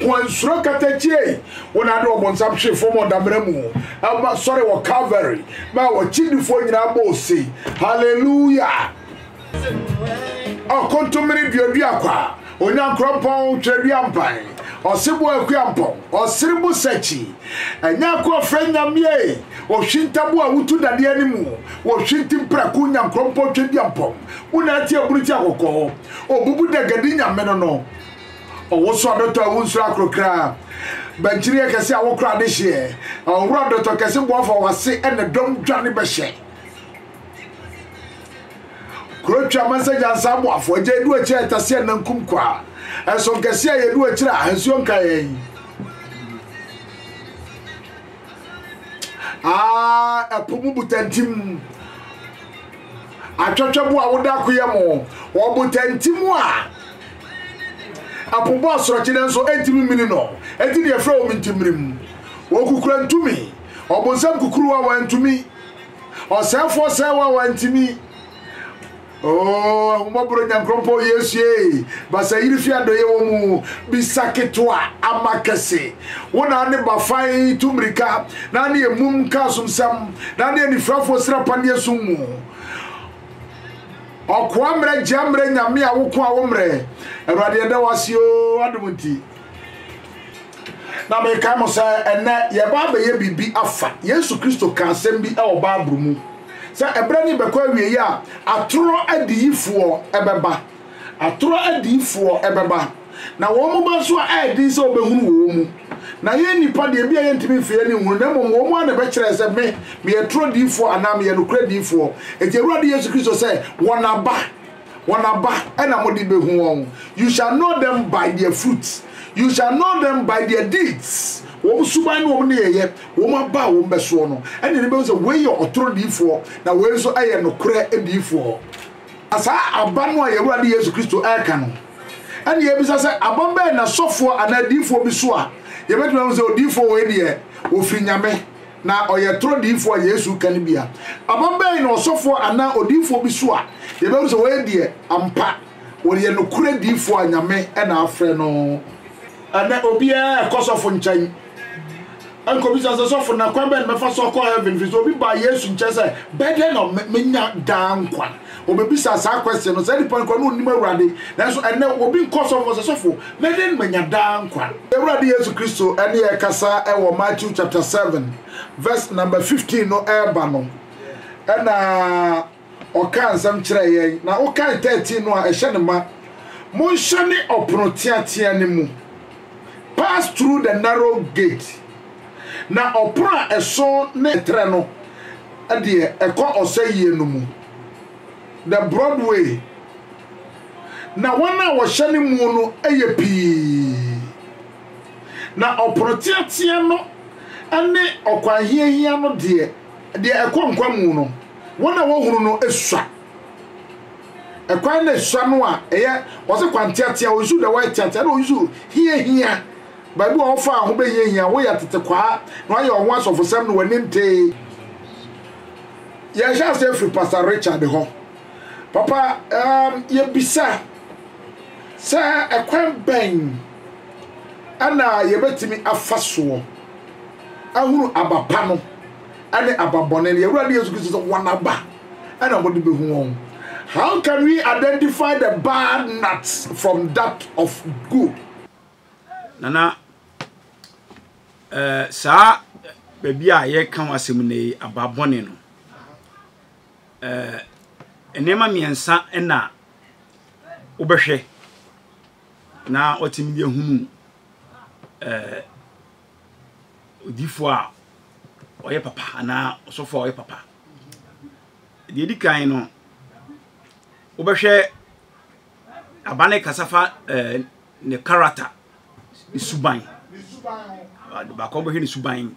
Kwannsuro kata gyei wɔn ano ɔbonsam hwee fam wɔ damena mu ma sɔre wɔ Calvary ma wɔ kyindifoɔ nyinaa bɔ ose Hallelujah ɔ kontomire duadua kwa Onyankorɔnpɔn twerɛdua mpan ɔseboɔ akuampɔn ɔsere bo sakyi Anyaako ɔfrɛ Nyameɛe ohwintabo a wotu dadeɛ animu wɔ hwinti mprako Onyankorɔnpɔn twaduampɔn wo na atia bunu ti akɔkɔɔ ɔbubu dagadi Nyame no no Ɔwosoa dɔtɔ a wonsuro akoro kraa, Bankyireɛ kɛse a wokora adehyeɛ, Ɔwora dɔtɔ kɛse boafo a wase ne dɔm dwane bɛhyɛ Kuro twa mansa gyansa aboafo, Agya edu akyire a ɛtase a nankum kwa, Ɛso nkɛse a yɛdu akyire a nsuo nka yɛn Ah, ɛpo mu butantim Atwɛtwɛbo a woda akoyɛ mo, Ɔbotantim a Apo bɔ asorɔkye nanso entumi mmene no, enti deɛ ɛfrɛ wɔn nti mmerem. Wɔkukura ntumi, ɔbonsam kukuruwa a wantumi, ɔsɛefoɔ sɛewa a wantumi. Oh, ahummɔborɔ Nyankorɔmpɔn Yesu ee, basayiri fi adɔeɛ wɔ mu, bisa ketewa ama kɛse. Wo na ane bafan tu mmirika, na ane emum ka asomsɛm, na ane anifirafoɔ sira paneɛ sum mu. Ɔkoa mmerɛ gya mmerɛ nyame a woko a wo mmerɛ. Awurade yɛda wo ase oo adom nti. Na mekae mo sɛ ɛnɛ yɛba abɛyɛ biribi afa. Yesu Kristo ka asɛm bi wɔ Bible mu sɛ ɛberɛ ne bɛkɔ awieeɛ a atorɔ adiyifoɔ ɛbɛba. Atorɔ adiyifoɔ ɛbɛba. na wɔn moma nso a ɛyɛ den sɛ wɔbɛhunu wɔ wɔn mu. Na yɛn nnipa deɛ, ebia yɛntumi mfiri yɛn ani nhunu, na mmom wɔn ara na ɛbɛkyerɛɛ sɛ me, meyɛ toro diyifoɔ anaa meyɛ nokorɛ diyifoɔ. Enti Awurade Yesu Kristo sɛ, Wɔn aba, wɔn aba na mode bɛhu wɔn. You shall know them by their fruits, you shall know them by their deeds, wɔn suban ne wɔn nneyɛeɛ, wɔn aba a wɔn bɛsoɔ no, ɛnneɛ ne bɛhu sɛ wei yɛ ɔtoro diyifoɔ, na wei nso yɛ nokorɛ diyifoɔ. Na saa aba no a yɛn Awurade Yesu Kristo reka no, ɛne yɛbisa sɛ, aba bɛn na sɔfoɔ anaa diifoɔ bi so a yɛbɛtumi ahu sɛ odiifoɔ wei deɛ ɔfiri Nyame na ɔyɛ toro diifoɔ a Yesu reka no bia? Aba bɛn na ɔsɔfoɔ anaa odiifoɔ bi so a yɛbɛhu sɛ wei deɛ ampa ɔyɛ nokorɛ diifoɔ a Nyame na afrɛ no? Ɛnnɛ obiara kɔ sɔfo nkyɛn. nkɔbisa sɛ sɔfo na kwan bɛn na mɛfa so akɔ heaven fi so obi baa yesu nkyɛn sɛ bɛdɛ na menya daa nkwa obebisa saa question no sɛ nipa nkwa no onim awurade nanso ɛnɛ obi nkɔ sɔfo sɛ sɔfo mɛdɛ na menya daa nkwa awurade yesu kristo ɛne ɛkasa ɛwɔ matthew chapter 7 verse number 15 no ɛreba no ɛna Ɔkaa nsɛm kyerɛɛ yɛn, na wokae thirteen no a ɛhyɛ no ma, Monhyɛne ɔpono teateaa no mu, pass through the narrow gate, na ɔpono a ɛso ne trɛ no deɛ ɛkɔ ɔsɛeɛ no mu, the broad way, na wɔn a wɔhyɛne muo no yɛ pii, na ɔpono teateaa no ne ɔkwan hiahia no deɛ, Deɛ ɛkɔ nkwa mu no, wɔn a wɔhunu no sua. Ɛkwan na ɛsua no a ɛyɛ, wɔse kwanteatea, ɔnsu da wɔyɛ teatea, ɛna ɔnsu hiahia, baabi a wɔfaa ho bɛhiahia, woyɛ atetekwaa na wɔayɛ wɔn ho asɔfosɛm na wɔani ntee. Yɛhyɛ aseɛ firi Pastor Richard hɔ. Papa, um, yɛbisa sɛ ɛkwan bɛn ɛna yɛbɛtumi afa soɔ? ahunu aba pa no ne aba bɔne no, yɛn Awurade Yesu Kristo sɛ wɔn aba na wɔde bɛhu wɔn. How can we identify the bad nuts from that of good? Nana, eh, saa baabi a yɛka ho asɛm no yi, aba bɔne no, eh, nneɛma mmiɛnsa na wobɛhwɛ na watumi de ahunu eh, odiyifoɔ a ɔyɛ papa anaa ɔsɔfoɔ a ɔyɛ papa deɛ edi kan no wobɛhwɛ aba ne kasa fa ɛɛ eh, ne character ne suban baako bɛhwɛ ne suban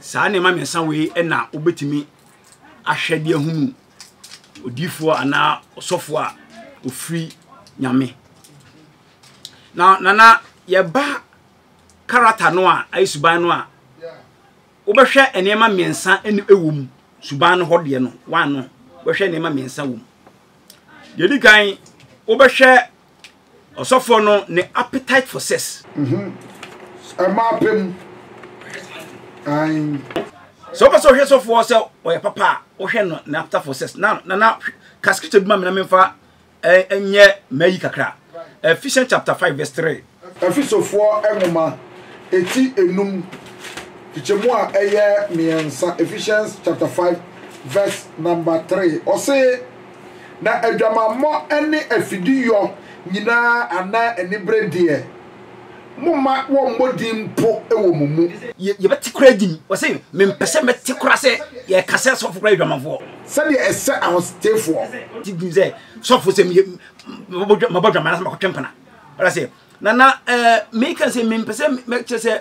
saa nneɛma mmiɛnsa wei na wobɛtumi ahwɛ de ahunu odiifoɔ anaa ɔsɔfoɔ a ɔfiri nyame na nana yɛba karata no a ayɛ suban no a wobɛhwɛ nneɛma mmiɛnsa ɛne ɛwɔ mu suban no hɔ deɛ no wano wobɛhwɛ nneɛma mmiɛnsa wɔ mu deɛ di kan wobɛhwɛ Ɔsɔfoɔ no ne appetite for sex. Ɛmaa pɛ mu. Ae. Sɛ wopɛ sɛ wohwɛ sɔfoɔ sɛ ɔyɛ papa a, wohwɛ no ne appetite for sex. Na na na ka scripture bi ma me na memfa ɛnyɛ mayi kakra. Ephesians chapter five verse three. Efesofoɔ nwoma eti enum kyekyɛmu a ɛyɛ mmiɛnsa Ephesians chapter five verse number three ɔse. Na adwamammɔ ne afideyɔ nyinaa anaa anibere deɛ, momma wɔmmɔ din mpo wɔ mo mu. Yɛ, yɛbɛte koraa din. Ɔse, Mempɛ sɛ mɛte koraa sɛ yɛka sɛ sɔfo koraa yɛ dwamanfoɔ. Sɛdeɛ ɛsɛ ahotetefoɔ. Te din sɛ sɔfo sɛ meyɛ, mabɔ dwa, mabɔ dwaman anaasɛ makɔtwe mpena. Ɔda sɛ, Na na ɛɛ, meka sɛ mempɛ sɛ mɛkyerɛ sɛ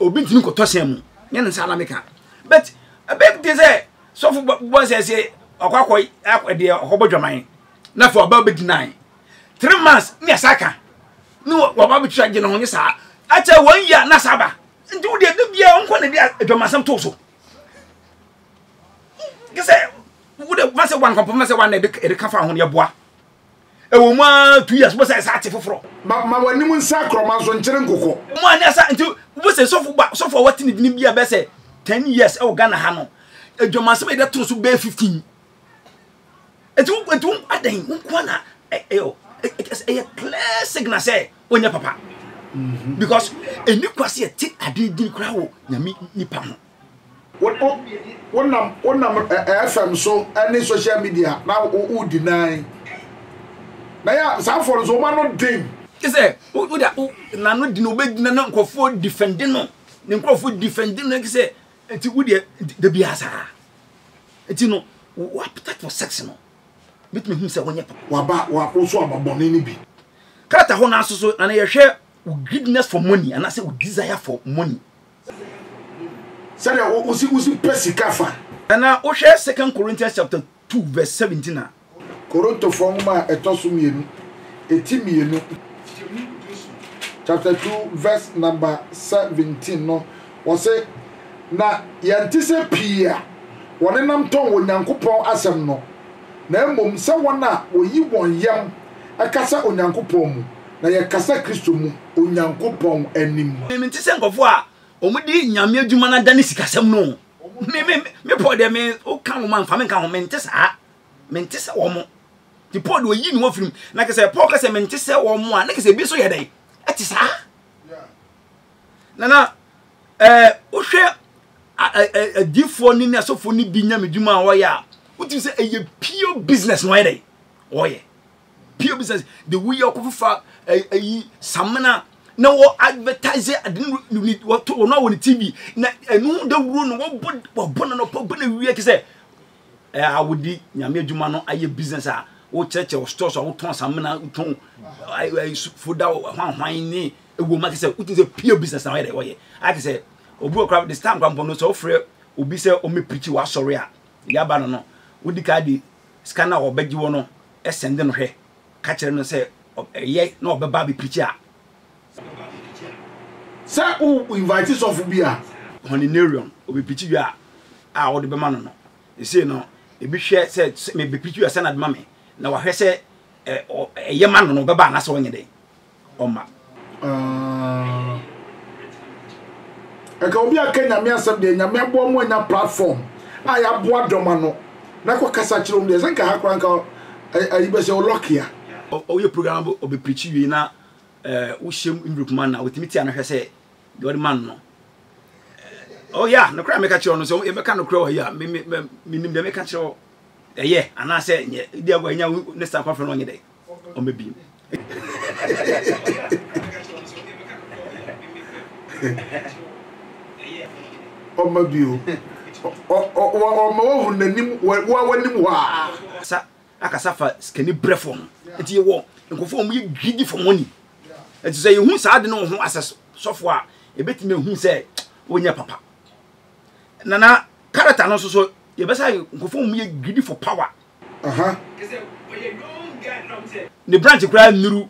obi ntumi nkɔtɔ hyɛn mu. Nyɛ ne saa na meka. But, ɛbɛyɛ den sɛ sɔfo bɔ bɔ nsɛ sɛ ɔkɔ akɔ akɔ deɛ ɔkɔ bɔ dwaman na afei ɔba bɛdi nan three months ne ɛsa ka ne wɔba bɛtua gye ne ho nye saa akyɛ wɔn yia na saa ba nti wo deɛ da biara nkɔ na de adwamansɛm to so kɛ sɛ wo de fa sɛ wankɔpɔ fa sɛ wana ɛde ka fa ho ne ɛboa Ɛwɔ mu ara two years wobɛsa ɛsa ate foforɔ. Ma ma w'anim nsa akorɔ ma nso nkyere nkokɔ. Mo a ne asa nti wobɛsɛ sɔfo ba sɔfo a wate ne dini bi a bɛyɛ sɛ ten years ɛwɔ Ghana ha no adwamansɛm a yɛde toro so bɛyɛ fifteen. Ɛti wo ɛti wo adɛn wo nkoa na ɛyɛ clear signal sɛ wonyɛ papa. Mm-hmm. Because ɛni kwa sɛ yɛte adeɛ din koraa wɔ nyame nipa ho. Wonam wonam FM so ne social media na wodi nan. Na yɛ saa afɔ no so wɔn ano den. Kyɛ sɛ wode wo n'ano di na wobɛgyina na nkurɔfoɔ difɛnde no ne nkurɔfoɔ difɛnde no kyɛ sɛ nti wodeɛ da biara saa nti no wo appetite for sex no bɛtumi hu sɛ wonyɛ papa. Waba wo so aba bɔne no bi. Krata hɔ no aso so na na yɛhwɛ wo greediness for money anaasɛ wo desire for money. sɛdeɛ wosi wosi pɛ sika fa. ɛna wohwɛ second corinthians chapter two verse seventeen a. korintofoɔ nwoma a ɛtɔ so mmienu eti mmienu chapter two verse number seventeen no wɔsi na yɛn ti sɛ pii a wɔnenam tɔn wɔ nyankopɔn asɛm no na mmom sɛ wɔn a wɔyi wɔn yam ɛkasa onyankopɔn mu Na yɛkasa Kristo mu, Onyankopɔn anim. Mente sɛ nkurɔfoɔ a wɔde Nyame adwuma no adane sikasɛm no o. Me, me, me Paul deɛ me, woka wɔn a mfa me nka ho, mente saa. Mente sɛ wɔn. Nti Paul deɛ ɔyi ne ho afiri mu. Na kɛsɛ Paul kɛsɛ mente sɛ wɔn a, na kɛsɛ ebi nso yɛ dɛn? Ɛte saa. Na na, ɛɛ, eh, wohwɛ adiifoɔ ne ne asɔfoɔ ne bi nyamedwuma a wɔyɛ a, wotumi sɛ ɛyɛ pure business na wɔyɛ dɛn? Wɔyɛ. pie bi sɛ de woyi akɔfofa ayi samena na wɔ advertise ade no wɔto wɔn a wɔn ti bi na ɛno dawuro no wɔbɔ wɔbɔ no nɔpɔ bɔ no wie kisɛ ɛɛ a wodi nyame adwuma no ayɛ business a wokyerɛkyerɛ wɔ store so a wotɔn samena wotɔn ɛɛ foda hwanhwan ne ewom a kisɛ wotu sɛ pure business na wɔyɛ dɛ wɔyɛ a kisɛ obi wɔ kora this time kora mpɔ no sɛ wɔfrɛ obi sɛ ɔmɛ pirikyi wɔ asɔre a yaba no no wodi kaa de sika no a wɔbɛgye wɔ no sɛnde no hwɛ ka kyerɛ no sɛ ɔbɛyɛ na ɔbɛba abɛprikyi a. Sɛ wo invite sɔfo bi a. Honinarium, ɔbɛprikyi dwa a wode bɛma no no. Sesei no, ebi hwɛ sɛ sɛ mebɛprikyi a sɛn na bɛma me, na wahwɛ sɛ ɛyɛ ma no no, ɔbɛba anaasɛ ɔnyɛ dɛn. ɔma. Aah Nka obi aka nyame asɛm deɛ nyame aboa mo anya platform a yaboa dɔm ano na kɔ kasa kyerɛ wɔn deɛ sɛ nka ha koraa nka ayi bɛsɛ o lucky a. Woyɛ program na ɔbɛ preachi wiei na wohyɛ mu Envelope ma no a, ɔtumi tia no hwɛ sɛ deɛ ɔde ma no no Oh yeah, nokorɛ a meka kyerɛ wo no, sɛ yɛbɛka nokorɛ wɔ ha yi a, me me me menim deɛ meka kyerɛ wo, ɛyɛ anaasɛ ɛnyɛ, ebia wɔ anya wo ne star kɔfrɛ no ɔnyɛ dɛ. ɔma bi ɔma bi o ɔma wahu n'anim wawanim hɔ a sa akasa fa sikani brɛfoɔ ho nti yɛwɔ nkurɔfoɔ a wɔyɛ greedy for money nti sɛ yɛhu saa de no ho asɛ sɔfoɔ a ɛbɛtumi ahu sɛ wɔnyɛ papa na na character no nso so yɛbɛsa ayɛ nkurɔfoɔ mu yɛ greedy for power aha ne branch koraa nnuru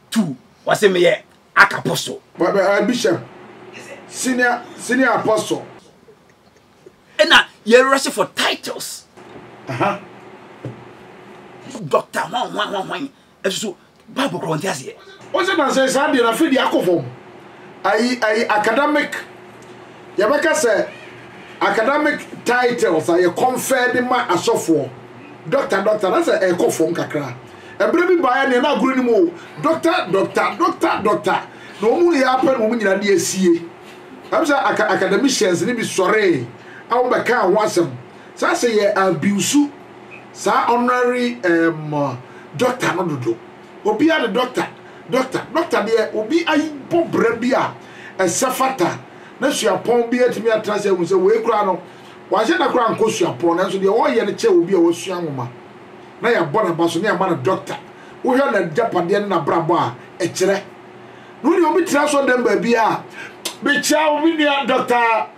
two wɔse meyɛ aka apostle uh, bishop senior senior apostle ɛna yɛrɛse for titles aha doctor hwan hwan hwan hwan ɛsusu Bible korɔ ɔnte aseɛ. Wo sɛ nansa yi saa deɛ no afei deɛ akɔ fam. Ayi ayi academic yɛbɛka sɛ academic titles a yɛ confer de ma asɔfoɔ doctor doctor na sɛ ɛkɔ fam kakra. Ɛberɛ bi baeɛ neɛ na agorɔ nim o doctor doctor doctor doctor na wɔn hu yɛ apɛ na wɔn nyinaa de asie. Ɛm sɛ academicians no bi sɔree a wɔbɛkaa ho asɛm. Saa sɛ yɛ abiusu saa ɔnrary ɛɛm dɔkta no dodo. Obia de dɔkta dɔkta dɔkta deɛ obi ayi bɔ bra bi a ɛsɛ fata na suapɔn bi atumi atena sɛ ahu sɛ wei koraa no wanhyɛ da koraa nkɔ suapɔn nanso deɛ ɔɔyɛ no kyɛ obi a wasua nwoma na yabɔ no aba so ne ama no dɔkta wohwɛ na gyapadeɛ ne na brabɔ a ɛkyerɛ no deɛ obi tena asɔdɛm baabi a mekyia wo me nua dɔkta.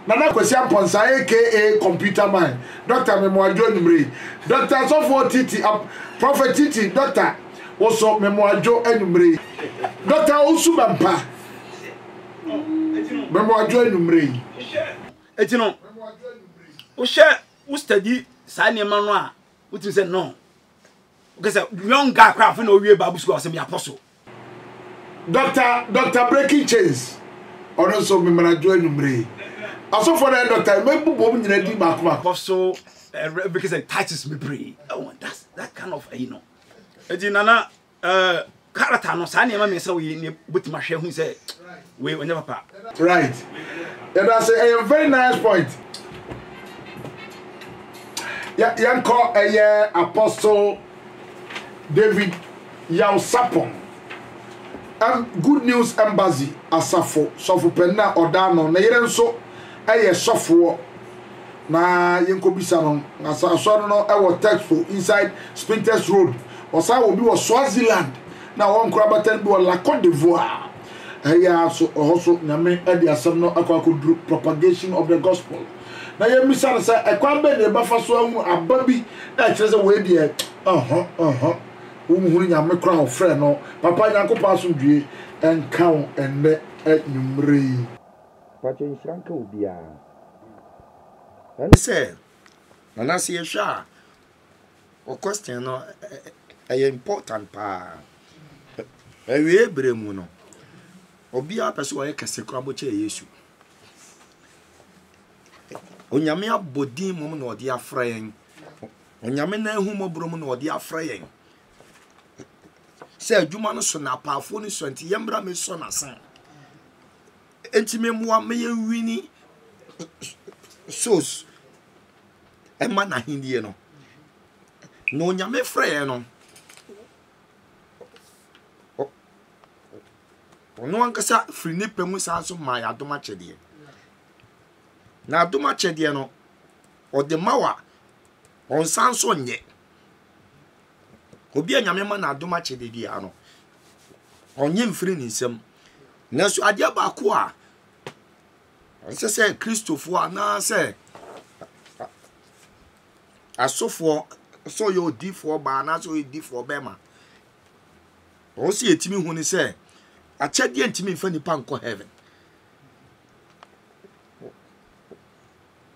Nana Kwasi Amponsah aka Computer Man, Doctor Memoadwo anwummere yi, Doctor Sɔfoɔ Titi Ap, Prophet Titi, Doctor Woso Memoadwo anwummere yi, Doctor Owusu Bɛmpa Memoadwo anwummere yi. Enti no, wohwɛ, wo study saa nneɛma no a, wotumi sɛ no. Wokɛ sɛ young guy koraa afei na ɔwie Bible school a, ɔsɛ me apostle. Doctor Doctor Breaking Chains ɔno nso meman adwo anwummere yi asɔfoɔ no ayɛ doctor yi mɛbobom nyina din baako baako. Kɔ so ɛrɛ bɛkɛ sɛ Titus bebree ɛwɔ that's that kind of ɛyi no ɛti nana ɛɛ character no saa nneɛma mmiɛnsa wɔ yi nneɛ bɛtuma hwɛ hu sɛ. Wei ɔnyɛ papa. Right yɛdase ɛyɛ very nice point yɛ yɛnkɔ ɛyɛ apostle David Yawsapong ɛm Good News Embassy asafo sɔfo panin a ɔda ano ne yere nso ɛyɛ sɔfoɔ na yɛnkɔ bisa no na sa asɔre no ɛwɔ Texpo inside Spintex Road ɔsan wɔ bi wɔ Swaziland na wɔn koraa bɛtɛn bi wɔ La Côte d'Ivoire. Ɛyɛ ara nso, ɛhɔ so Nyame de asɛm no akɔ akɔduru propagation of the gospel, na yɛmmisa no sɛ, ɛkwan bɛn na yɛbɛfa so ahunu aba bi a ɛkyerɛ sɛ wei deɛ ɔho ɔho wonhunu Nyame koraa a ɔfrɛɛ no? Papa Nyankopɔn asomdwoeɛ nka wo ɛnnɛ anwummerɛ yi. Mpakyɛ nhyira nka obiara. Ɛne sɛ, Nana sɛ yɛhwɛ a. O question no ɛyɛ important paa Awieɛ berɛ mu no obiara pɛ sɛ ɔyɛ kɛse koraa bɔ kyɛ Yesu Onyame abɔ din mom na ɔde afrɛ yɛn Onyame na ahu mɔborɔ mu na ɔde afrɛ yɛn sɛ adwuma no so na apaafoɔ no sua nti yɛmmra mesɔ n'asen enti memmoa meyɛ wini souls ɛma n'ahennie no na onyame frɛɛ no ɔno ankasa firi ne pɛ mu saa nso maa yɛ adom akyɛdeɛ na adom akyɛdeɛ no ɔde ma wa ɔnsan nso nyɛ obi a nyame ma na adom akyɛdeɛ biara no ɔnye mfiri ne nsam nanso adeɛ baako a Ɛnsɛ sɛ Kristofo anaasɛ asɔfoɔ, sɛ ɔyɛ odifoɔ baa anaasɛ ɔyɛ odifoɔ bɛrima, wɔn sɛ yɛtumi hu ne sɛ akyɛdeɛ ntumi mfa nipa nkɔ heaven.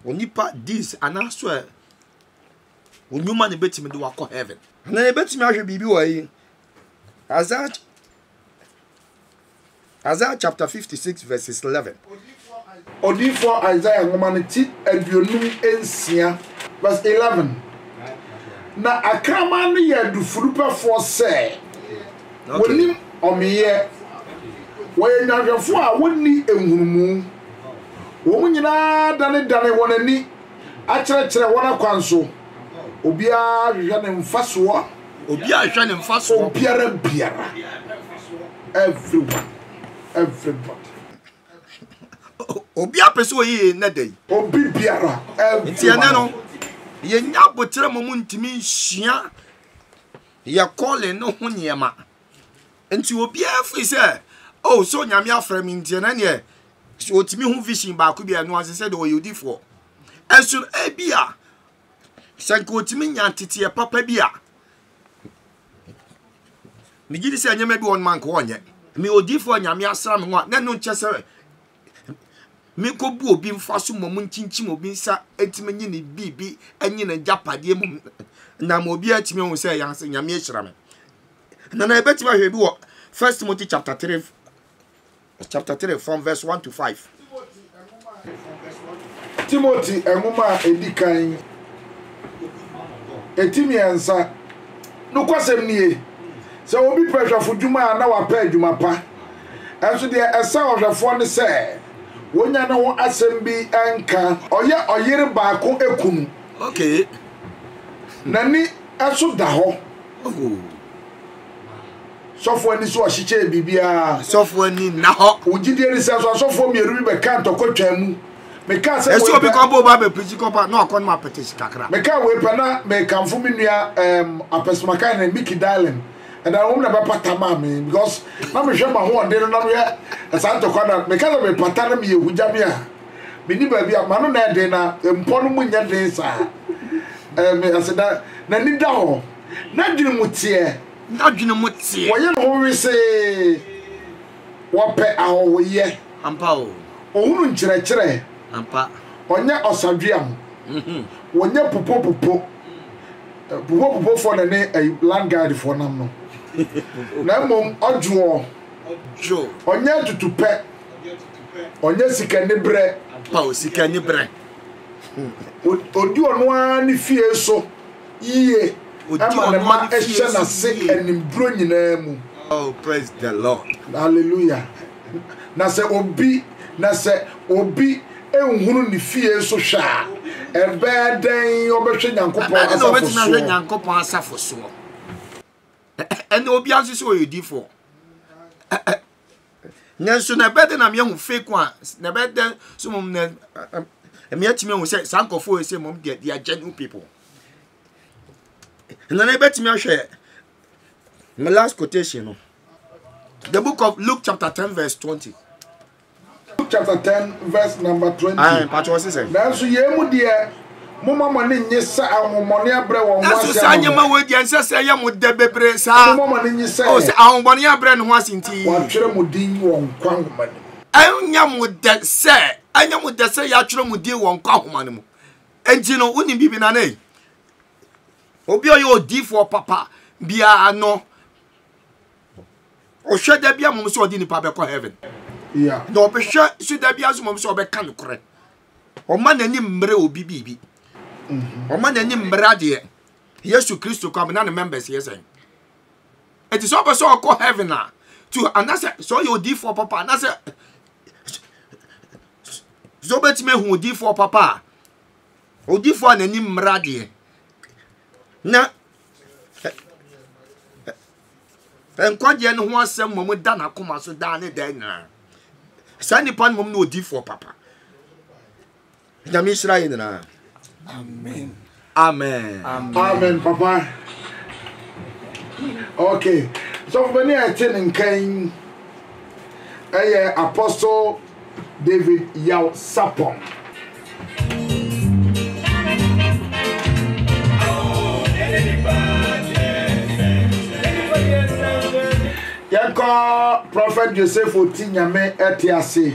Onipa deeds anaasɛ onyuma na ebetumi de wakɔ heaven. Na ebetumi ahwɛ biribi wɔ yi. Isaiah Isaiah chapter 56 verses 11. Odiyifoɔ Isaiah nwoma no ti aduonum nsia verse eleven. Na akraman no yɛ adufudupɛfoɔ sɛ wɔnnim ɔmeeɛ, wɔyɛ nnwanhwɛfoɔ a wɔnni nhunumu. Wɔn nyinaa danedane wɔn ani akyerɛkyerɛ wɔn akwan so, obiara hwehwɛ ne mfasoɔ. Obiara nhwɛ ne mfasoɔ. Obiara biara, everyone, everybody. Obiara pɛ sɛ ɔyɛ yei nnɛ da yi. Obi biara, everyone. Nti ɛnɛ no, yɛnya aboterɛ ma montumi nsua yɛ calling no ho nneɛma. Nti obiara firi sɛ, oh, so Nyame afrɛ me nti ɛnɛ neɛ, sɛ ɔtumi ho vision baako bi a ɛno ase sɛ deɛ ɔyɛ odifoɔ. Ɛso ebi a, Sɛ nka otumi nya nteteɛ papa bi a, megye di sɛ nneɛma bi wɔ no ma nka ɔnyɛ. Me odiifoɔ nyame asra me ho a, na ɛno nkyɛ sɛ menkɔbu obi mfa so mmom nkyinkyim obi nsa ntumi nye ne biribi nye ne gyapadeɛ mu na ma obi atumi ahu sɛ ɛyɛ ase nyame ahyira me. Na na yɛbɛtumi ahwɛ bi wɔ First Timothy chapter 3 chapter 3 from verse 1 to 5. Timothy nwoma a edi kan eti mmiɛnsa nokwasɛm nie sɛ obi pɛ hwɛfo dwuma a na wapɛ adwuma pa ɛnso deɛ ɛsɛ ɔhwɛfoɔ ne sɛ wonya ne ho asɛm bi nka ɔyɛ ɔyere baako ekunu okay n'ani ɛso da hɔ oh. Sɔfo ani so ɔhyekyɛɛ biribiara. Sɔfo ani nna hɔ. Wo gyidie ni sɛ so asɔfoɔ mmienu bi bɛka ntɔkwa twaa mu. Mekaa sɛ wei pɛ. Ɛsɛ obi kɔ bɔ ba bɛ pirikyi kɔ pa na ɔkɔ nom apɛtɛsi kakra. Mekaa wei pɛ na mekamfo me nua um, apɛsomakae ne Mickey Darling. Ɛda no wɔn na bɛpata maa me because na mehwɛ m'ahoɔden no na mehwɛ saa ntɔkwa na meka sɛ mepata na meyɛ hugya me a menni baabi a m'ano na ɛden na mpɔ no mu nyɛ den saa. Um, aseda n'ani da hɔ. N'adwene mu teɛ. N'adwene mu teɛ. Wɔyɛ ne ho wesee. Wɔpɛ ahɔhoyɛ. Ampa o. Ɔhunu nkyerɛkyerɛ. Ampa. Ɔnyɛ ɔsadweam. Wɔnyɛ pupopupo. Pupopupofoɔ na ɛne ɛyi land guidefoɔ nam no. Na mmom ɔdwoɔ. Ɔnyɛ atutupɛ. Ɔnyɛ sikaniberɛ. Ampa o, sikaniberɛ. Ɔdi ɔno ara ne fie so. yiye ma ne mma hyɛ n'ase animduro nyinaa mu. Hallelujah. Na sɛ obi na sɛ obi nhunu ne fie so hwɛ a, ɛbɛyɛ dɛn ɔbɛhwɛ Nyankopɔn asafo soɔ? Nyankopɔn asafo soɔ. Ɛnna obiara nso sɛ ɔyɛ odiifoɔ. nanso na ɛbɛyɛ dɛ na meahu fake one na ɛbɛyɛ dɛ so mmom na meatumi ahu sɛ saa nkurɔfoɔ yɛ sɛ mmom deɛ they are genuine people na na ɛbɛtumi ahwɛ my last quotation no the book of luke chapter ten verse twenty Luke chapter ten verse number twenty, Nanso yei mu deɛ, momma mo ani nnye sɛ ahohommɔne abrɛ wɔn ho ase ama mo. Nanso saa nneɛma wei deɛ, ɛnsɛ sɛ ɛyɛ mo dɛ bebree saa. Momma mo ani nnye sɛ. O sɛ ahohommɔne abrɛ ne ho ase nti. Wɔatwerɛ mo din wɔ nkwa nwoma no mu. Ɛnyɛ mo dɛ sɛ, ɛnyɛ mo dɛ sɛ yɛatwerɛ mo din wɔ nkwa nwoma no mu. Enti no, wonim biribi na ne obi a ɔyɛ odiifoɔ papa biara no. ɔhwɛ da bia mmom sɛ ɔde nipa bɛkɔ heaven na ɔbɛhwɛ so da bia nso mmom sɛ ɔbɛka nokorɛ ɔma n'ani mmerɛ obi biribi mhm. ɔma n'ani mmerɛ adeɛ yesu kristo kɔ amena ne members yɛ sɛn ɛti sɛ ɔpɛ sɛ ɔkɔ heaven a to anasɛ sɛ ɔyɛ odiifoɔ papa anasɛ sɛ wobɛtumi ahu odiifoɔ papa a odiifoɔ a n'ani mmerɛ adeɛ na Nkwagyeɛ no ho asɛm mmom da n'akoma so daa ne daa nyinaa. Saa nipa no mmom ne odiifoɔ papa. Nyame nhyira yɛ nyinaa. Amen. Amen. Amen, papa. Okay. Sɔfo bani a ɛte ne nkan ɛyɛ Apostle David Yaw Sapong. Yɛnkɔ Prɔfɛt Joseph Oti Nyame ɛte ase.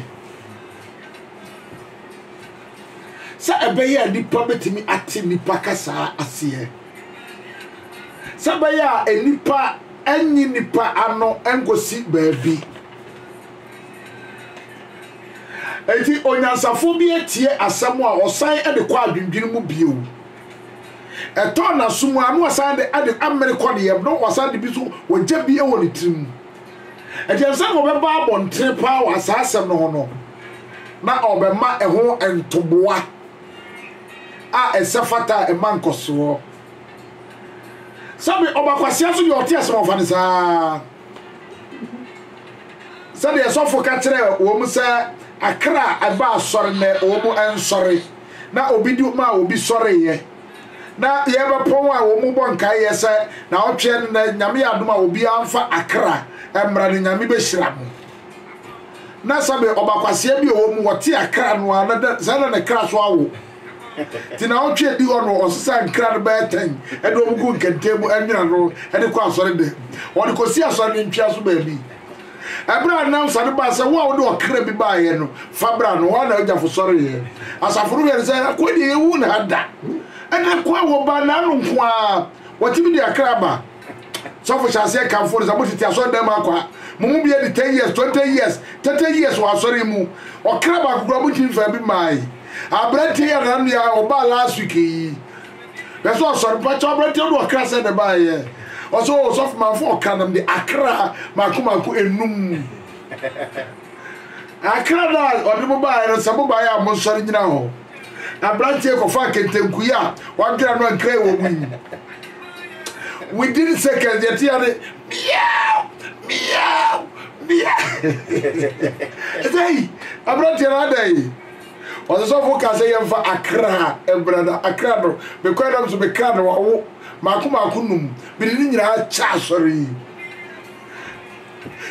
Sɛ ɛbɛyɛ a nipa bɛtumi ate nipa kasaa aseɛ. Sɛ ɛbɛyɛ a nipa ɛnye nipa ano ɛnkɔsi baabi. Enti onyansafo bi atie asɛm a ɔsan de kɔ adwendwene mu bio. Ɛtɔ n'aso mu a na ɔsan de ade amene kɔ ne yam na ɔsan de bi so ɔgya bi wɔ ne tirim. Enti ɛsɛ sɛ ɔbɛba abɔntene paa wɔ saa asɛm no ho no na ɔbɛma ɛho ntoboa a ɛsɛ fata a ɛma nkɔsoɔ. Sɛbi ɔba kwasea so deɛ ɔte asɛm ɔfa no saa. sɛdeɛ sɔfo ka kyerɛ wɔn sɛ akra a ɛba asɔre nɛ wɔn nsɔre na obi di ma a obi sɔreeɛ na yɛbɛpɔn a wɔn bɔ nkaeɛ sɛ na ɔtweɛ no nɛ nyame yɛ adom a obiara mfa akra mmra no nyame bɛhyira mo na sɛbe ɔbakwaseɛ bi ɔwɔ mu wɔte akra no a na sɛ na ne kra so awo Ntsi naawɔtwe edi hɔ no, ɔsesaa nkra no bɛyɛ tɛn de wɔn guu nkɛntɛn mu nwene ano de kɔɔ asɔrdan mu. Wɔde kosii asɔre no ntwea so baabi. Bere a nnansa no baa sɛ wo a wode ɔkra bi baeɛ no fa bra no, hɔ ara na Ogyafo sɔreeɛ. Asafo no yɛre sɛ, Akoa deɛ yɛnhuu no ha da. Ɛnna akoa a wɔbaa n'ano nko ara, wɔtumi de akra ba. Sɔfo hyɛ aseɛ kamfo no sɛ motete asɔredan mu akɔ a, mo mu bi adi 10 years, 20 years, 30 years wɔ asɔre yi mu. Ɔkra baako koraa montumi mfaa bi mmae. Aberanteɛ yi a nana nua ɔbaa last week yi, hwɛ sɛ ɔsɔre. Mpakyɛw aberanteɛ no de ɔkra sɛn na ɛbaeɛ? Ɔsɛ o sɔfo mamfa ɔkra na mede akra mako mako enum. Akra no a ɔde mo baeɛ no sɛ mobaeɛ a monsɔre nyina hɔ. na aberanteɛ yi kɔfaa kɛntɛnkuyi a wadwera no a nkran wɔ mu yi mu within seconds deɛ ɛteɛ ne meow meow meow ɛsɛ yi aberanteɛ no adɛn yi ɔsesɔfo ka sɛ yɛmfa akra mmra no akra no mekɔɛ nam so mekra no wawo maako maako num mede ne nyinaa kyɛ asɔre yi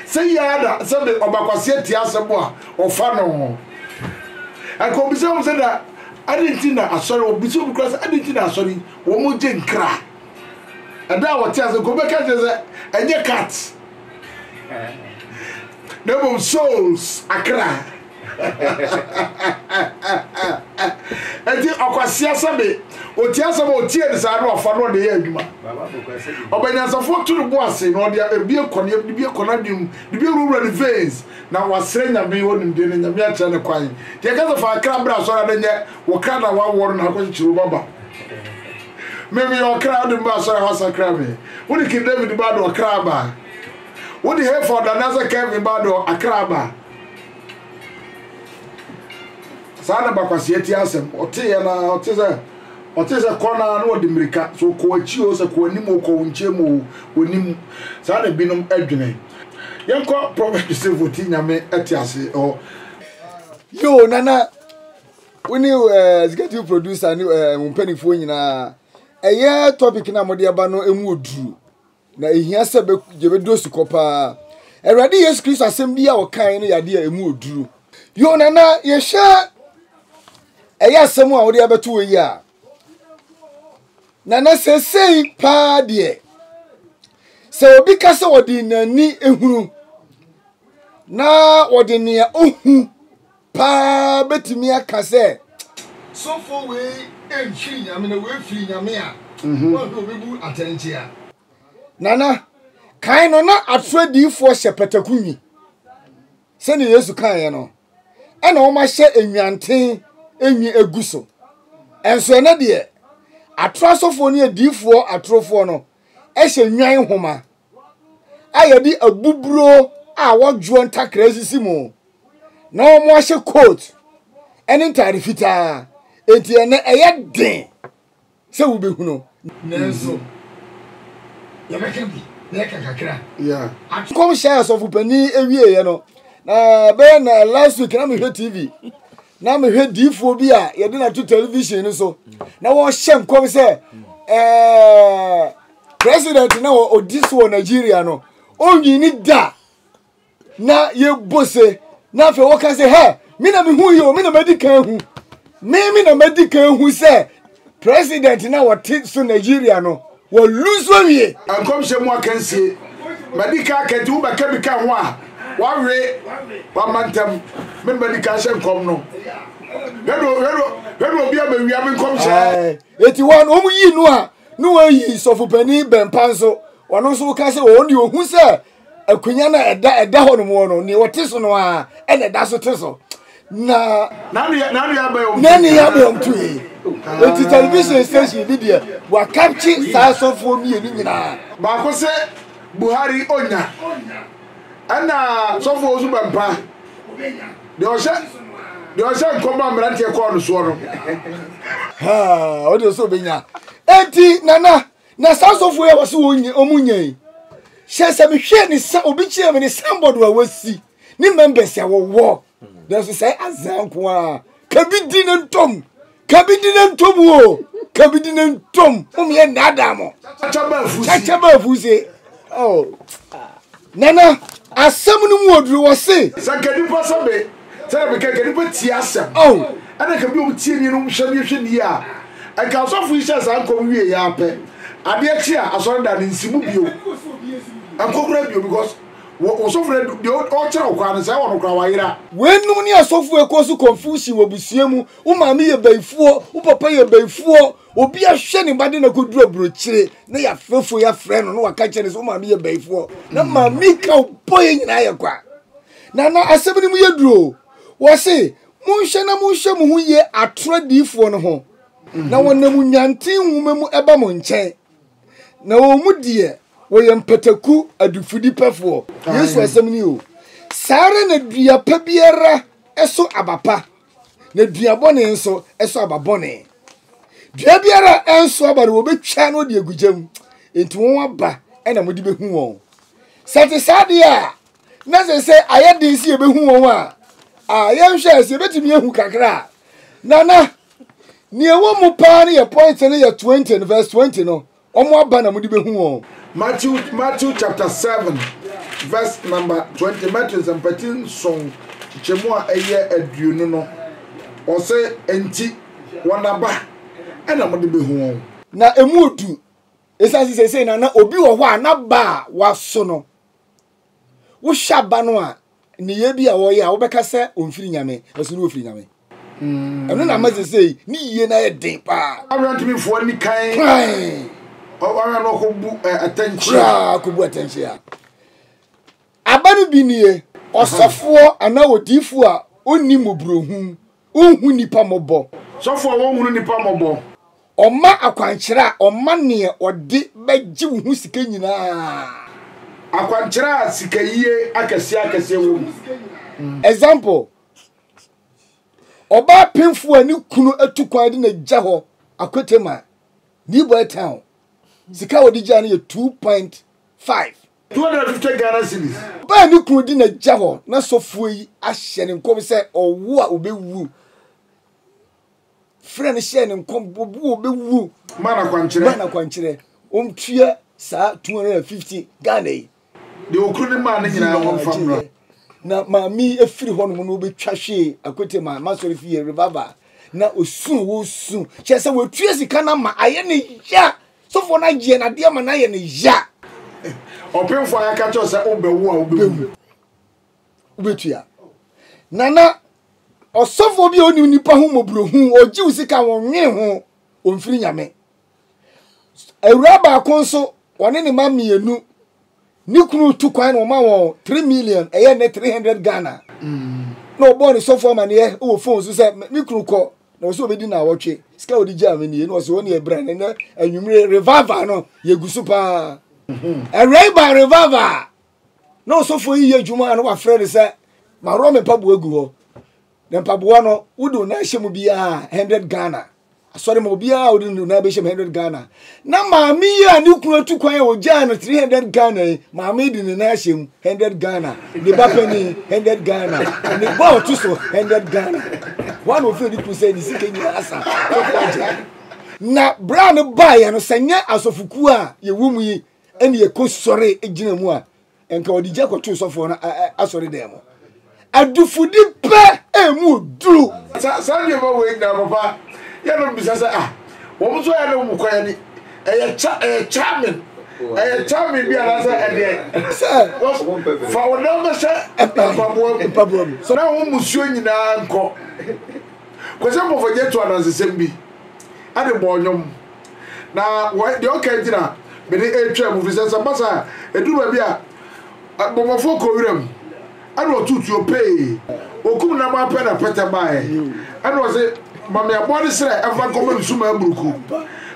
Sɛ yɛ ara sɛ de ɔbakwaseɛ te asɛm a ɔfa no ho. Ɛka obi sɛ wɔn sɛ na adi nti na asɔre wɔn bisa obi kora sɛ adi nti na asɔre wɔn gye nkra. Ɛda a wɔte ase nka obɛka kyerɛ sɛ ɛnyɛ cat na mmom souls akra. ɛti ɔkwasia sɛbe ɔti asɛm ɔtie no saa no ɔfa no ɔde yɛ adwuma ɔbɛnyansafo to no bo ase na ɔde ebi kɔ ne ebi kɔ n'adwene mu de bi awurawura ne veins na wasrɛ nyame hɔ nimdeɛ na nyame akyerɛ ne kwan deɛ kasa fa akra bra asɔre na nyɛ wɔ kra na wawɔ no na akɔkyekyere wo baba meme yɛ ɔkra wode mba asɔre a wasakra me wode king david ba de ɔkra ba wode hefa ɔdane asɛ kevin ba de akra ba saa na bakwaseɛ ti asɛm ɔteeɛ no ara ɔte sɛ ɔte sɛ kɔ no ara na ɔde mmirika so kɔ akyi o sɛ kɔ anim o kɔ wo nkyɛn mu o wɔnim saa na binom adwene yɛnkɔ prɔfɛt joseph ɔti nyame te ase ɔ yo nana wo ne eh, executive producer ne eh, wo mpanimfoɔ nyinaa ɛyɛ topic no a mode aba no ɛmu ɔduru Na ehia sɛ yɛbɛdɔ asukɔ paa. Awurade Yesu Kristo asɛm bi a ɔkae no yɛ adeɛ a ɛmu ɔduru. Yo, nana, yɛhwɛ ɛyɛ asɛm a wode abɛto wɔ yi a, nana, sɛsɛi paa deɛ, sɛ obi ka sɛ wɔde n'ani ehunu na wɔde nea ohu paa bɛtumi aka sɛ, Sɔfoɔ wei mfiri Nyame, na wei firi Nyame a, mhm. wɔn na wɔbɛbu atɛnkyea. Nana, kan no na atorɔ adiyifoɔ hyɛ pataku nwi. Sɛdeɛ Yesu kaeɛ no, ɛna wɔahyɛ nnwanten nwi agu so. Ɛnso ɛnɛ deɛ, atorɔ asɔfoɔ ne adiyifoɔ atorofoɔ no hyɛ nnwan nhoma. a yɛde abuburo a wɔdwoɔ ntakra sisi mu na wɔahyɛ coat ne ntaade fitaa enti ɛnɛ ɛyɛ den sɛ wobɛhunu nanso yɛbɛka bi na yɛka kakra nkɔmhyɛ a sɔfopanin awieeɛ no na bɛyɛ na last week na mehwɛ tv na mehwɛ diifoɔ bi a yɛde no ato television no so na wɔhyɛ nkɔm sɛ ɛɛ President na ɔdi so wɔ Nigeria no, ɔnwini da na yɛbɔ se na afei wɔka sɛ hɛ me na mehu yi o me na madi kan hu me me na madi kan hu sɛ president na ɔte so Nigeria no wɔlu so awie. Nkɔmhyɛ mu akansie madi kan aka nti wobɛka bi ka ho a wawe wamantam me na madi kan hyɛ nkɔm no hwɛ no hwɛ no hwɛ no obi a mawia me nkɔmhyɛ. Eti wɔn wɔn yi no a Ne wɔayi sɔfopanin Bɛmpa nso, ɔno nso woka sɛ wɔn deɛ ohu sɛ akonnwa no a ɛda ɛda hɔ nom wɔ no, nea ɔte so no ara ɛna ɛda so te so. Na na ne ya bɛn tu yi. Eti television station bi deɛ wɔakapkye saa sɔfoɔ mmienu nyinaa. Baako se Buhari onya, ɛna sɔfoɔ nso Bɛmpa. Deɛ ɔhyɛ deɛ ɔhyɛ nkɔm a mmeranteɛ kɔɔ no soɔ no. Haa ɔde sɛ ɔbɛnya. Eti nana na saa sɔfo yi a wɔsɛ wɔn nyɛ wɔn nyɛ yi hyɛ sɛ mehwɛ ne sa obi kyerɛ me ne signboard a wɔasi ne members a wɔwɔ nanso sɛ azan ko a kabi di ne ntɔm Kabidi ne ntom o, kabidi ne ntom. Mom yɛ nnaadaa mo. Kyakya baa fusi. Oh. Nana, asɛm no mu oduru wɔ se. Sɛ ka nipa sɛ me, sɛ na meka ka nipa tie asɛm. Oh. Ɛna ka bi ɔmo tie nie no ɔmo hwɛ nie hwɛ nie a. Nka asɔfo yi hyɛ saa nkɔm wie yɛ ara pɛ. Adeɛ kye a asɔre dan no nsi mu bio. Nkɔ kura bio because wɔ ɔsɔfo no deɛ ɔkyerɛ wo kwan no sɛ ɛwɔ no kora wayera. Wei nom ne asɔfo ekuo so confusion wɔ abusua mu Wo maame yɛ bayifoɔ, wo papa yɛ bayifoɔ, obi ahwɛ ne ba de na kɔduru aburokyire na yɛafrɛ fo yɛafrɛ no na waka kyerɛ no sɛ wo maame yɛ bayifoɔ na mm. maame ka wo bɔ yɛ nyinaa yɛ kwa. Na na asɛm no mu yɛ duro o. Wɔ se monhwɛ na monhwɛ mo ho yie atorɔ adiyifoɔ no ho mhm. na wɔnam nwanten nwoma mu ɛba mo nkyɛn na wɔn mu deɛ wɔyɛ mpataku adifudipɛfoɔ yesu asɛm ni o saa ara na dua pa biara ɛso aba pa na dua bɔne nso ɛso aba bɔne. Dua biara a ɛnso aba no wɔbɛtwa no de agu gya mu, enti wɔn aba na mode bɛhu wɔn. Sɛ ɛte saa deɛ a, na sɛ sɛ ayɛ den sɛ yɛbɛhu wɔn a, a yɛnhwɛ sɛ yɛbɛtumi ahu kakra a, na na nea ɛwɔ mu paa no yɛ point no yɛ 20 no verse 20 no Wɔn aba na mode bɛhu wɔn. Matthew Matthew chapter seven verse number twenty Matthew nsɛmpati nson kyekyɛmu a ɛyɛ aduonu no, ɔsɛ enti wɔn aba ɛna mode bɛhu wɔn. Na ɛmu odu, ɛsiane sɛ seesei na na obi wɔ hɔ a n'aba a waso no. wohwɛ aba no a nneyɛɛ bi a wɔyɛ a wobɛka sɛ ɔmfiri nyame ɛso no ɔfiri nyame mm. ɛno na ama sesei ne yie no ayɛ den paa aberantemefoɔ ni kan ɔwara no ɔkɔbu atɛnkyea ɔkɔbu atɛnkyea aba no bi nie ɔsɔfoɔ anaa odiifoɔ a ɔnni mmɔborɔhunu Onhu nnipa mmɔbɔ. Sɔfo a wonhunu nnipa mmɔbɔ. Ɔma akwankyerɛ a ɔma nea ɔde bɛgye wo ho sika nyinaa. Akwankyerɛ a sikayie akɛseakɛseɛ wɔ mu. Example, Ɔbaa penfo a ne kunu atu kwan de no agya hɔ Akwete ma, Newboy Town. Sika a wɔde gyaa no yɛ two point five. 250 Ghana cedis. Ɔbaa ne kunu de n'agya hɔ na sɔfoɔ yi ahyɛ no nkɔm sɛ ɔwo a ɔbɛwu. Frɛ no hyɛɛ no nkɔm ɔbo a ɔbɛwu. Maa no akwankyerɛ. Maa no akwankyerɛ. Ɔntua saa 250 Ghana yi. Deɛ ɔkunu no maa no nyinaa ɔmfa mmra. Na maame yi afiri hɔ nom na ɔbɛtwa hwee akwete ma masɔre fie revival na ɔsu a ɔresu kyerɛ sɛ wɔatua sika no ama ayɛ ne ya. Sɔfoɔ no agyeɛ no adeɛ ma no ayɛ no ya. Ɔpemfoɔ a yɛaka kyerɛ sɛ wobɛwo a wobɛwu. Wobɛtua. Nana, ɔsɔfoɔ bi a ɔnim nipa ho mmɔborɔhu, ɔgye wo sika wɔnwene ho, ɔmfiri nyame. Awura baako nso, ɔne ne ma mmienu. Ne kunu tu kwan na wɔma wɔn three million ɛyɛ ne three hundred Ghana. Na ɔbɔɔ ne sɔfo amaneɛ wɔ phone so sɛ me kunu kɔ na ɔsɛ ɔbɛdi na awɔtwe sika ɔde gyaa me nie na ɔsɛ ɔne ɛbrɛ ne nɛ anwummere revival no yɛgu so paa ɛwɛn ba revival a na ɔsɔfo yi yɛ adwuma a na wafrɛ no sɛ maworɔ me mpaboa gu hɔ na mpaboa no wode wo nan hyɛ mu biara hundred Ghana asɔre ma obiara a ɔde ne nan bɛhyɛ mu hundred ghana na maame yi a ne kunu atu kwan a ɔgyaa no three hundred ghana yi maame de ne nan ahyɛ mu hundred ghana ne ba panyin hundred ghana ne ba a ɔto so hundred ghana wɔn na ofiri ne kunu sɛ ne sika nyinaa asa sɔfo agye na bra no baeɛ no sɛ nyɛ asɔfokuo a yɛwɔ mu yi ɛne yɛkɔ sɔre gyina mu a nka ɔde gya kɔtoo sɔfoɔ no asɔre dan mu adufudi pɛ ɛmu duru saa saa nneɛma wei nyinaa papa yɛ no bisa sɛ ah wɔn nso ayɛ no wɔn kɔ yɛ ni ɛyɛ kya ɛyɛ charming ɛyɛ charming bi anaasɛ ɛdeɛ sɛ fa wɔn nan bɛhyɛ mpaboa mu mpaboa mu so na wɔn musuo nyinaa nkɔ kwasɛ mpɔfɔgye to anansesɛm bi ɛde bɔ ɔnyom. Na wɔ deɛ ɔka nti na mede retwɛn mo, ɛfiri sɛ sɛ ɛba saa a, ɛduru baabi a, bɔmmɔfoɔ kɔ wuram, ɛna ɔto tuo pee, wɔkum no ama pɛ na pɛtɛ baeɛ, ɛna ɔse, Ma me aboa no srɛ mfa nkɔma me sumaa buruku,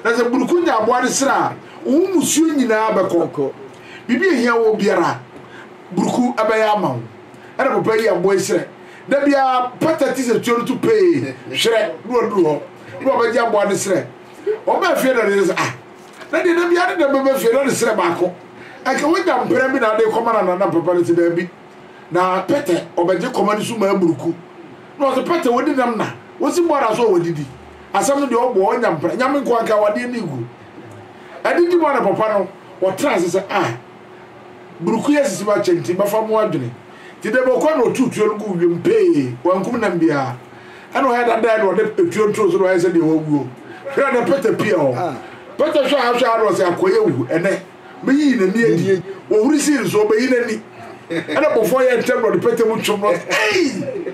na sɛ buruku nya aboa no srɛ a, wo mmusuo nyinaa bɛkɔ, biribi a ɛhia woɔ biara, buruku bɛyɛ ama wo. Ɛna papa yi yɛ aboa yi srɛ, da biara pɛtɛ te sɛ tuo no to pee, hwerɛ, na waduru hɔ. Nna ɔbɛgye aboa ne serɛ. Ɔbaa fie na ne yere sɛ, Ah, na deɛ da biara ne dɛm bɛba fie na ne serɛ baako. Anka wanya mprɛ bi na ade rekɔma no anaa? Na papa no sɛ, Daabi, na pɛtɛ ɔbɛgye kɔma no so ma amuruku. Na ɔse, Pɛtɛ, wadi nam na? Wosi bɔɔla so a wadidi? Asɛm no deɛ ɔboɔ, ɔnya mprɛ. Nyame nko anka awadeɛ ne gu. Adidi mu a na papa no ɔtena ase sɛ, Ah, buruku yi asisi m'akyɛ nti, bɛfa mo adwene. Enti da bi ɔkɔe na ɔtow tuo no guu wim pee, wankum nam biara. Ɛnna ɔyɛɛ dɛ dae na ɔde tuo no too so na ɔyɛɛ sɛ deɛ wawuo. Hwɛ na Peter pue hɔ. Peter hwɛ ha hwɛ ha na ɔse, Akoy awu ɛnnɛ. Meyii n'ani adi. Ɔhuri sii no so, ɔbɛyi n'ani. Ɛnna abɔfoɔ yɛɛ ntɛm na ɔde Peter mu twom na ɔse, Ei!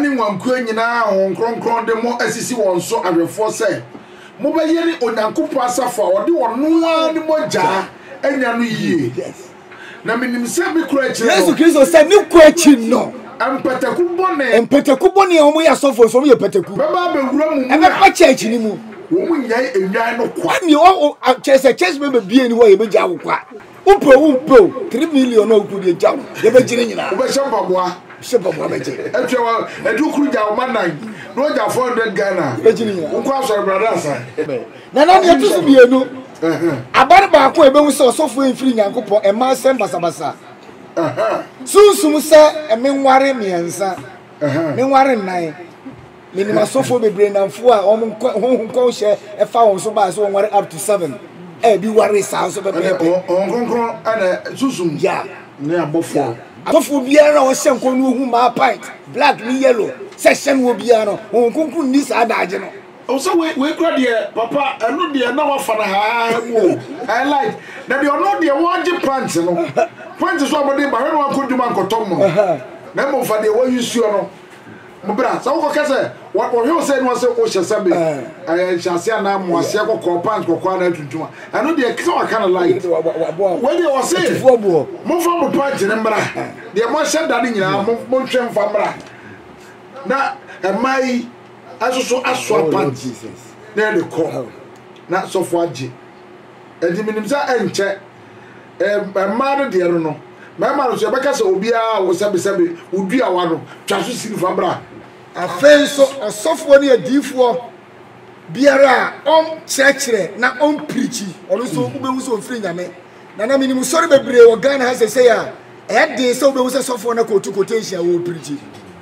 ne nguankuo nyinaa a Honhom Kronkron de mo asisi wɔn so awɛfoɔ sɛ mobɛyɛ ne Onyankopɔn asafo a ɔde ɔno ara ne mogya anya no yie. Na menim sɛ me kuro akyire no. Yesu Kristo sɛ ne kuro akyi no. Mpataku bɔne. Mpataku bɔne a wɔyɛ asɔfoɔ nso wɔyɛ mpataku. Bɛba abɛwura mu mu. Ɛbɛba church no mu. Wɔn nyɛe nnwan no kwa. Ɛnni ɔ ɔ church sɛ church bɛbɛ bie ni hɔ a yɛbɛgya wo kwa. Wopɛ o wompɛ o, three million a wokuo deɛ gya no, yɛbɛgye ne nyinaa. Wobɛhyɛ mpaboa. Hyɛ mpaboa bɛgye. Ɛtwɛ wa, ɛdu kuru gya ɔma nan, na ɔgya four hundred Ghana a, Yɛbɛgye ne nyinaa. wokɔ asɔre brada asan. Na na deɛ ɛto so mmienu, aba no baako a yɛbɛhu sɛ ɔsɔfoɔ yi mfiri Nyankopɔn, ɛmma nsɛm basabasa. Sunsum sɛ menware mmiɛnsa, menware nnan. Menim asɔfoɔ bebree nnamfo a wɔn nkɔ honhom nkɔnhyɛ ɛfa wɔn so baa sɛ wɔn ware up to seven a ebi ware saa nso pɛpɛɛpɛ. Wɔn kronkron ɛna susum ne abɔfoɔ. Asɔfoɔ biara a ɔhyɛ nkɔn no ohu maa pint black ne yellow sɛ hyɛ no wɔ biara no honhom kronkron nni saa daagye no. Wo sɛ wei wei kora deɛ papa ɛno deɛ na wafa no haahaa mu o ɛɛ like na deɛ ɔno deɛ wɔgye pant no pant so a wɔde ba hwɛ na wankɔ dwuma ankɔtɔ mono na mmom fa deɛ wɔyi suo no. Bra, sɛ wokɔka sɛ wɔhwɛ wo sɛ ɛne ɔsɛ wohyɛ sɛ be ɛyɛ nhyɛase anaa mmoaseɛ kɔkɔɔ pant kɔkɔɔ anaa tuntum a ɛno deɛ ɛsɛ waka no light wei deɛ ɔse momfa mo pant no mmra deɛ moahyɛ da no nyinaa monhwɛ mfa mmra na ɛmaa yi ɛso so asoa pant na ɛde kɔ na sɔfo agye ɛde menim sɛ ɛnkyɛ ɛɛ mmaa no deɛ no no, mmarima no nso yɛbɛka sɛ obiara wo sɛbesɛbe wo duawa no, twa so sini fa bra. Afei nso ɔsɔfoɔ ne adiyifoɔ biara a ɔnkyerɛkyerɛ na ɔnpirikyi, ɔno nso wobɛhu sɛ ɔmfiri Nyame. Na na menim sɔre bebree wɔ Ghana ha seesei a, ɛyɛ den sɛ wobɛhu sɛ sɔfoɔ no kɔɔtu quotation a ɔrepirikyi.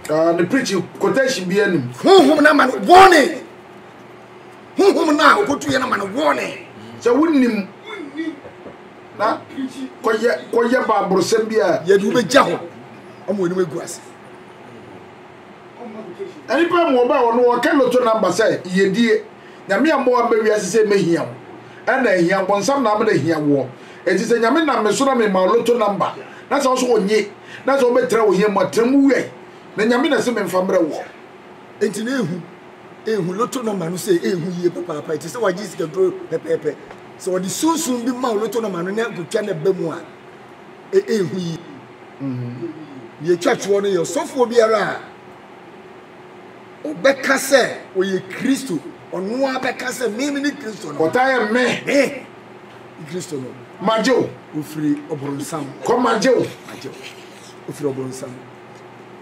Ah, ne preaching quotation biara nim. Honhom no ama no bɔne. honhom no a okotu yɛn ama no warning. Sɛ wonnim na kɔyɛ kɔyɛ baaborosɛm bi a. Yɛde wo bɛgya hɔ ama wɔn anim agu ase. Nnipa mu ɔbaa wɔn wɔka loto namba sɛ yɛdie. Nyame ammɔ aba wiase sɛ mɛhia wo. Ɛna ahia bonsam na abɛda hia woɔ. Enti sɛ Nyame nam me so na mema wo loto namba na sɛ wo so wonye na sɛ wobɛtra ohia mu a, tra mu wɛn. Na Nyame na se memfa mmerɛ woɔ. Enti na ehu. ehu loto nɔma no sɛ ehu yie papaapa, ɛte sɛ wagye sikaduro pɛpɛɛpɛ. Sɛ wɔde sunsum bi ma wo loto nɔma no na kotwa no ba mu a, e, ehu yie. Deɛ ɛtwa toɔ no yɛ ɔsɔfoɔ biara a ɔbɛka sɛ ɔyɛ Kristo, ɔno ara bɛka sɛ me me ne Kristo no. Ɔtaa yɛ me. Me Kristo no. Magye wo. Ofiri ɔbɔnsam. Kɔ magye wo. Magye wo. Ofiri ɔbɔnsam.